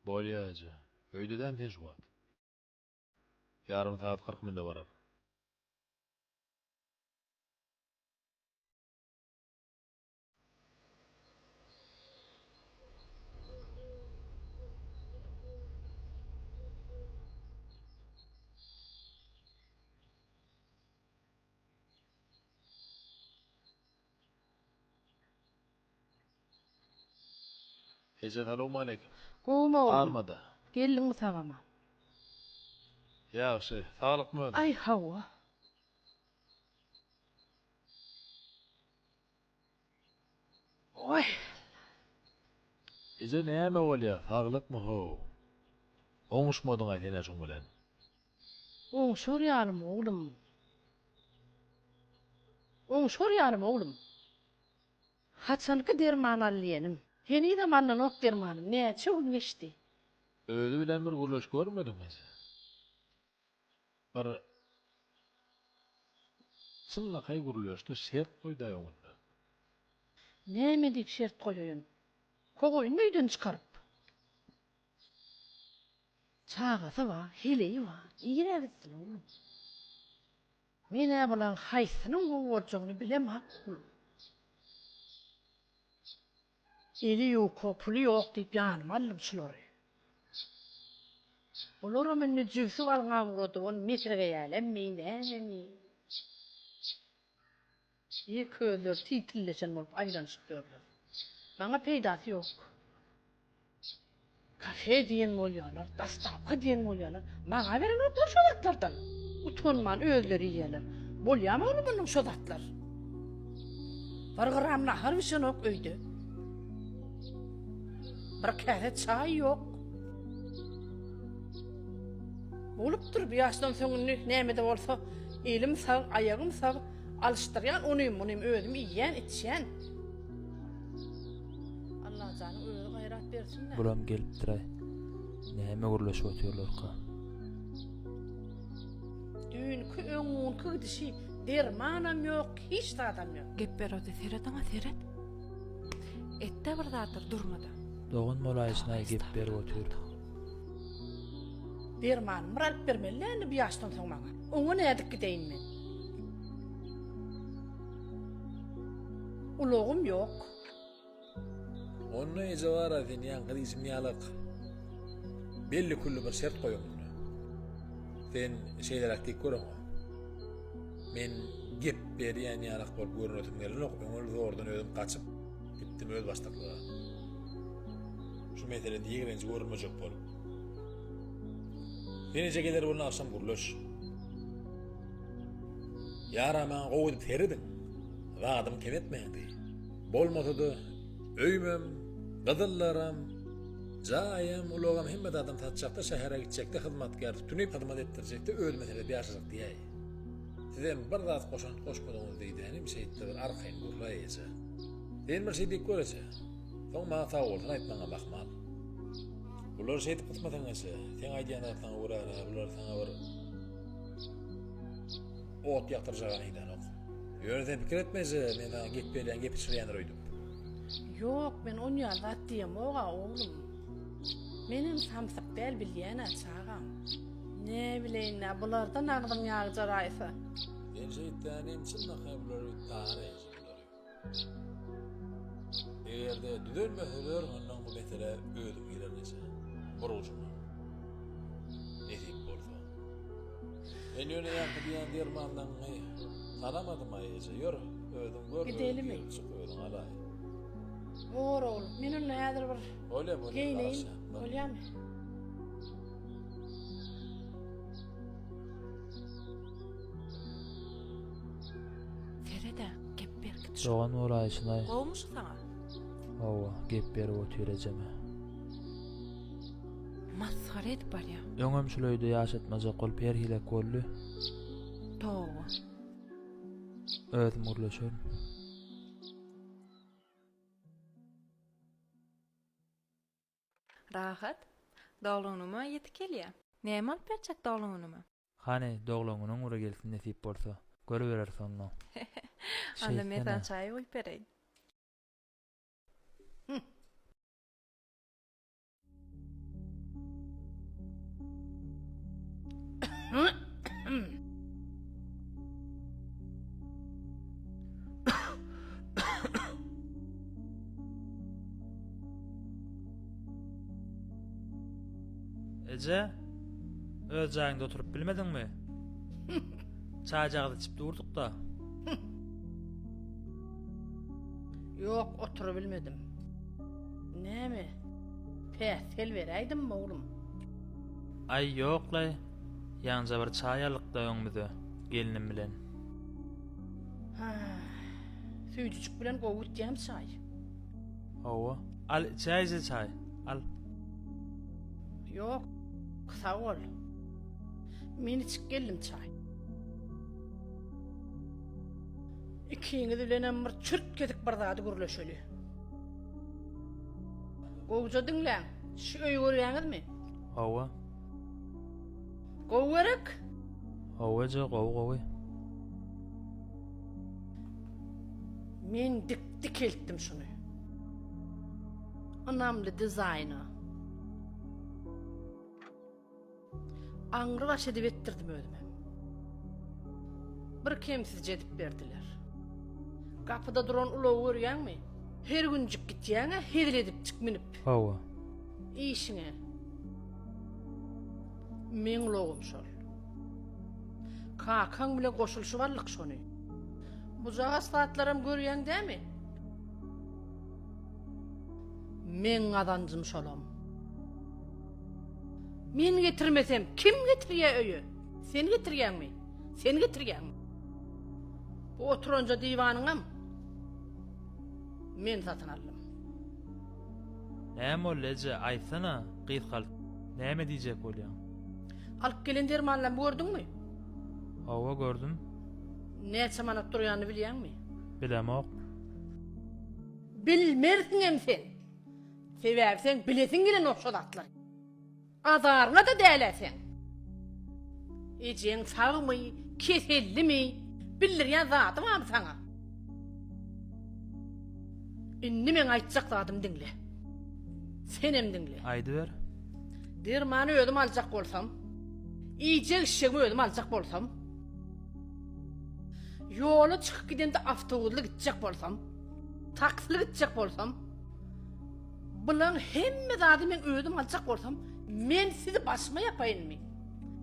Bolýa eje. Öýdedämi sen şu wagt? Ýarym sagat kyrk minute barar. Eje salowmaleýkim. Gowumy oglum. Barmada. Geldiňmi sagama. Ýagşy. Saglykmy özüň. Aý hawa. Oý. Eje näme bolýa saglykmy how. Oňuşmadyňa senä şuň bilen. Oňuşar ýalymy oglum. Oňuşar ýalymy oglum. Haçanky derman al diýenim. Henizem alnanok dermanym. Näçe gün geçdi. Özi bilen bir gürleş görmediňiz. Bir çynlakaý gürleşdi, şert goýdy aýogynda. Näme diýip şert goýaýyn. Kogaýyn öýden çykaryp. Çagasy bar, heleýi bar. Nirä gitsin oglum. Men-ä bulaň haýsynyň gowy boljagyny bilemok. Eli ýuka, puly ýok diýip ýanyma aldym şulary. Bularam indi jübsi galňa ugradyp, ony mesegeýälemmi, nämemi? Çig közler siýtilleşen bolup aýlanyşyp ýörler. Maňa peýdasy ýok. Kafe diýen bolýarlar, dastavka diýen bolýarlar. Maňa berenoklar şo zatlardan. Utanman özleri iýýärler. Bolýamy ony munyň şo zatlar? Bir gram nahar bişenok öýde. Bir käse çaý ýok. Bolupdyr bu ýaşdan soň indi näme-de bolsa elim sag, aýagym sag. Alyşdyrýan onym munym özüm iýýän içýän. Allahjanyň özi gaýrat bersin dä. Bulam gelipdiraý. Näme gürleşip otyrlarka. Düýnki öňňunky gidişi dermanam ýok hiç zadam ýok. Gep berodi seret oňa seret. Etde bir zatdyr durmada. Dogan bolaýyşynaý gep berip otyr. Dermanymy bir alyp bermeli dä indi bu ýaşdan soň maňa. Oňa nädip gideýin men. Ulagym ýok. Onda eje bar-a sen ýan gyzym ýalak. Belli külli bir şert goýuň onda. Sen şeýleräk diýip görüň. Men gep berýän ýalak bolup görünesim gelenok, öňül zordan özüm gaçyp gitdim öz başdaklyga. Şu meselede ýigrenji görülmejek bolup. Sen eje geler bolna agşam gürleş. Ýaramaň gowy serediň. Zadym kem etmändi. Bolmasa-da öýümem, gyzyllaram, jaýym, ulagym hemme zadym satjakda şähere gitjekde hyzmatkär tutunyp hyzmat etdirjekde özüme sebäp ýaşajak diýäý. Sizem bir zat goşant goşmadyňyz diýdänim şeýtde bir arkaýyn gürläý eje. Sen bir şey diýip gör eje. Soň maňa sagbolsun aýtmaňam ahmal. Bular şeýdip gysmatyň eje. Seň aýdýan zatlaryňa görä-ä bular saňa bir Ot ýakdyrjagam eýlänok. Ýöne-de pikir etmejä, men saňa gep berýän gepi çyrýandyr öýdüp. Ýok, men onýaly zat diýemog-a, oglum. Menem samsyk däl, bilýän-ä, çagam. Näbileýin-dä, bulardan agzyň ýag jaraýsa. Sen şeýtseň hem, çynlakaý bular öýdüp, tagana ýeňjek bular öýdüp. Eger-de düzelmese ber mundan bu mesele özüm girer neçe bir ujuna. Nesip bolsa. Men ýöne ýaňky diýen dermanlaňňy tanamadym-aý eje, ýör, özüň gör, özüň girip çyk, özüň alaý. Bor ogul, men onda häzir bir geýneýin, bolýamy? Feride, gep berkit şo. Dogan bolaýyşyna-aý. Gowumy şu saňa? Hawa, gep berip otur ejeme. Masgara edip barýa. Öňem şul öýde ýaşatmajak bolup her hilek boldy. Toba. Özüm gürleşerin. Rahat. Dogluňňyma ýetik gelýä. Näme bolup berjek dogluňňyma? Hany, dogluňňynyň ury gelsin nesip bolsa. Görübereris onda. Onda men saňa çaý guýup bereýin. Eje, öz jaýyňda oturyp bilmediňmi? Çaýjagaz içip durduk-da. Ýok, oturyp bilmedim. Näme? Päsgel beräýdimmi, oglum? Aý, ýok-laý. Ýaňja bir çaý aldyk-da öňümize, gelnim bilen. Süýjüjik bilen gowy gitýämi çaý? Hawa. Al içäýje çaý. Al. Ýok. Sag bol. Men içip geldim çaý. Ikiňiz bilenem bir çürtgedik bir zady gürleşeli. Gowja diňläň. Şu öýi görýäňizmi? Hawa. Gowy gerek? Hawa eje, gowy gowy. Men dik Dikeltdim şuny. Ynamly dizaýna. Aňry baş edip etdirdim özüm hem. Bir kemsizje edip berdiler. Gapyda duran ulagy görýäňmi? Her günjik gitýäň-ä hezil edipjik münüp. Hawa. Işiňe. Meň ulagym şol. Kakaň bilen goşulyşyp aldyk şony. Bujagaz zatlaram görýäň dämi? Meň gazanjym şolam. Men getirmesem kim getirýä öýe? Sen getirýäňmi? Sen getirýäňmi? Bu oturanja diwanyňam men satyn aldym. Näme boldy eje, aýtsana, gyzkalt. Näme diýjek bolýaň? Alyp gelen dermanlarymy gördüňmi? Hawa gördüm. Näçe manat durýanyny bilýäňmi? Bilemok. Bilmersiňem sen. Sebäbi seň bilesiň gelenok şo zatlary. Azaryňa-da däl-ä seň. Ejeň sagmy, kesellimi, bildirýän zady barmy saňa? Indi meň aýtjak zadymy diňle. Senem diňle. Aýdyber. Dermany özüm aljak bolsam, iýjek-içjegimi özüm aljak bolsam, Ýola çykyp gidende awtobusly gitjek bolsam, taksili gitjek bolsam, bulaň hemme zady men özüm aljak bolsam, men sizi başyma ýapaýynmy?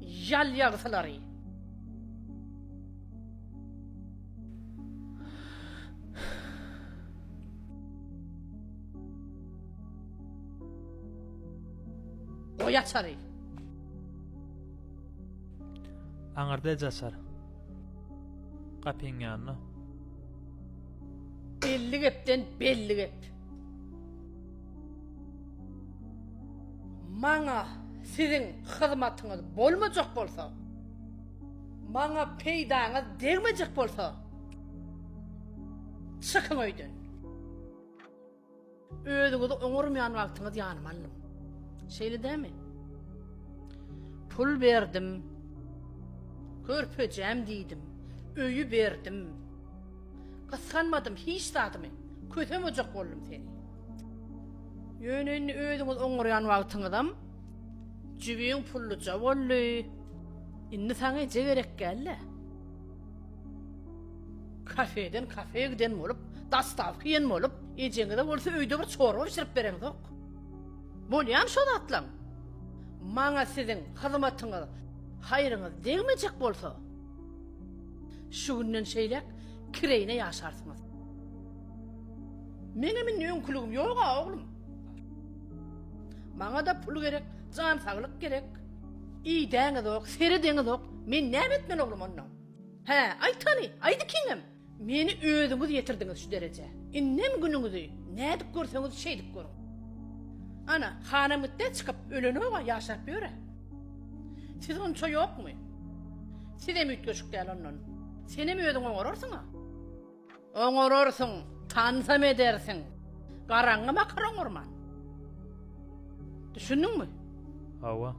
Ýal ýagysylary. Goý açary. Aňyrda eje açar. Gapyň ýanynda. Elli gepden belli gep. Maňa siziň hyzmatyňyz bolmajak bolsa, maňa peýdaňyz degmejek bolsa, çykyň öýden. Özüňizi oňarmaýan wagtyňyz ýanyma aldym. Şeýle dämi? Pul berdim. Körpejäm diýdim. Öýi berdim. Gysganmadym hiç zadymy. Kösemejek boldum seni. Ýöne indi özüňizi oňarýan wagtyňyzam jübiň pulluja boldy. Indi saňa eje gerek däl-le. Kafeden kafeýe giden bolup, dastawka iýen bolup, ejeňize bolsa öýde bir çorba bişirip bereňzok. Bolýamy şo zatlaň? Maňa siziň hyzmatyňyz, haýryňyz degmejek bolsa, şu günden şeýläk kireýine ýaşarsyňyz. Meňem indi öňküligim ýog-a, oglum. Maňa-da pul gerek, jan saglyk gerek. Idäňizok, seredeňizok, men näme etmeli oglum onda? Hä, aýt hany, aýt ikiňem! Meni özüňiz ýetirdiňiz şu derejä. Indem günüňizi nädip görseňiz şeýdip görüň. Ana, hanam gitdi, çykyp, ölenok-a, ýaşap ýör-ä. Siz onça ýokmy? Sizem üýtgeşik däl ondan. Senem özüň oňararsyň-a. Oňararsyň, tansam edersiň. Garaňňy bakar oňarman. Düşündiňmi? Hawa.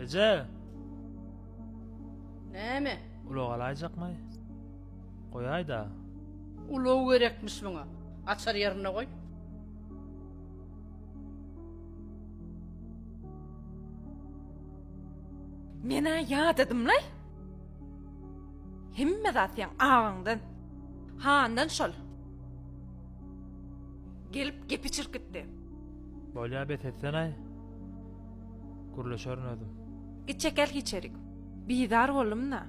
Eje! Näme? Ulag alaýjakmy? Goýaý-da. Ulag gerekmiş muňa. Açar ýerinde goý. Men-ä ýadadym-laý. Hemme zat seň agaňdan, handan şol. Gelip gepi çirkitdi. Bolýa bes etsen-aý. Gürleşerin özüm. Git çekil içerik. Bizar boldum-da.